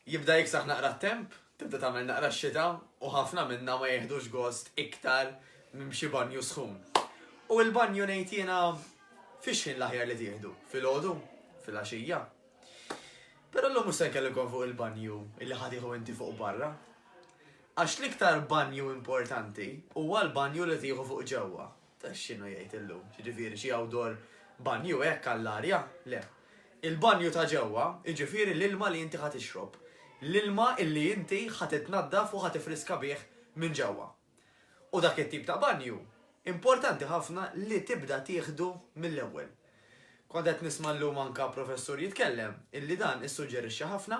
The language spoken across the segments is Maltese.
Jibda jiksaħ naqra t-temp, tibda tagħmel naqra x-xita u ħafna minna ma jihdux gost iktar minn xi banju sħun. U l-banju ngħid jiena fiex ħin l-aħjar li tieħdu? Fil-ħodu? Fil-għaxija? Però l-lum se nkellimkom fuq il-banju illi ħatiħu inti fuq barra. Għax l-iktar banju importanti huwa l-banju li tieħu fuq ġewwa. Ta' x'inhu jgħid illum? Jiġifieri xi awdor banju hekk għall-arja? Le. Il-banju ta' ġewwa, jiġifieri l-ilma li inti ħa tixrob. L-ilma illi inti ħa titnaddaf u ħa tifriska bih minn ġewwa. U dak it-tip ta' banju importanti ħafna li tibda tieħdu mill-ewwel. Kont qed nisma' llum anke professur jitkellem illi dan issuġġerixxa ħafna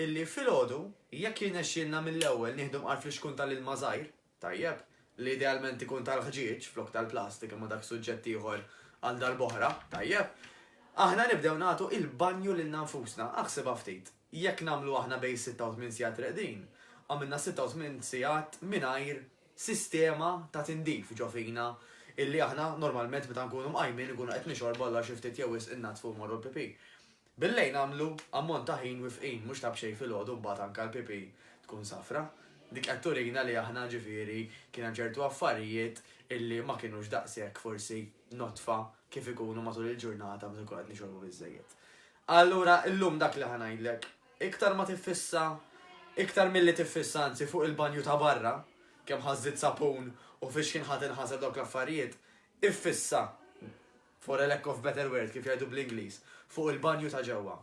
illi filgħodu jekk jirnexxielna mill-ewwel nieħdu mqar flixkun tal-ilma żgħir, Tajjeb, li idealment ikun tal-ħġieġ flok tal-plastik imma dak suġġett ieħor għal darb'oħra, tajjeb. Aħna nibdew nagħtu il-banju lilna nfusna, aħsibha ftit, jekk nagħmlu aħna bejn sitta u tmien sigħat reqdin, għamilna sitta u tmien sigħat mingħajr sistema ta' tindif ġo fina illi aħna normalment meta nkunu mqajmin inkunu qed nixorbu allura xi ftit jew wisq innaddfu u mmorru l-pipì. Bil-lejl nagħmlu ammont ta' ħin wifqin mhux ta' b'xejn filgħodu mbagħad anke l-PP tkun safra. Dik qed turina li aħna ġifieri kien hemm ċertu affarijiet illi ma kienux daqshekk forsi nodfa kif ikunu matul il-ġurnata meta nkunu qed nixorbu biżżejjed. Allura illum dak li ħa ngħidlek, iktar ma tiffissa, iktar milli tiffissa anzi fuq il-banju ta' barra, kemm ħażżitt sapun u fiex kien ħa tinħasar dawk l-affarijiet, iffissa, for a lack of better word, kif jgħidu bl-Ingliż, fuq il-banju ta' ġewwa.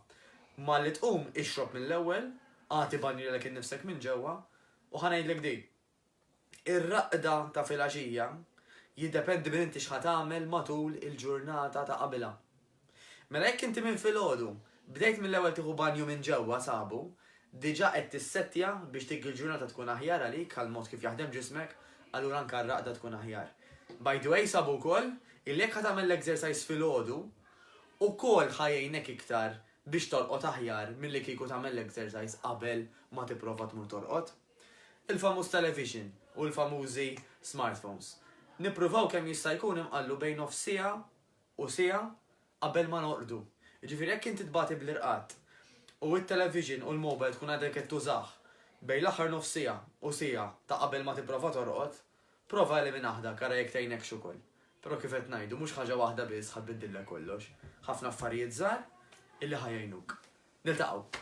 Malli tqum, ixrob mill-ewwel, agħti banju lilek innifsek minn ġewwa, u ħa ngħidlek din, ir-raqda ta' filgħaxija jiddependi minn inti x'ħa tagħmel matul il-ġurnata ta' qabilha. Mela jekk inti minn filgħodu bdejt mill-ewwel tieħu banju minn ġewwa sabu, Diġà qed tissettja biex dik il-ġurnata tkun aħjar għalik għall-mod kif jaħdem ġismek, allura anke r-raqda tkun aħjar. By the way sabu wkoll illi jekk ħa tagħmel l-exercise filgħodu, ukoll ħa jgħinek iktar biex tolqot aħjar milli kieku tagħmel l-exercise qabel ma tipprova tmur tolqot. Il-famuż television u l-famużi smartphones. Nippruvaw kemm jista' jkun inqallu bejn nofs siegħa u siegħa qabel ma norqdu. Jiġifieri jekk inti tbati bl-irqad u t-television u l-mobile tkun għadek qed tużah bejn l-aħħar nofs siegħa u siegħa ta' qabel ma tipprova torqod, prova eliminah dak ara jekk tgħinekx ukoll. Però kif qed ngħidu mhux ħaġa waħda biss ħa tbiddillek kollox, ħafna affarijiet żgħar illi ħa jgħinuk. Niltaqgħu.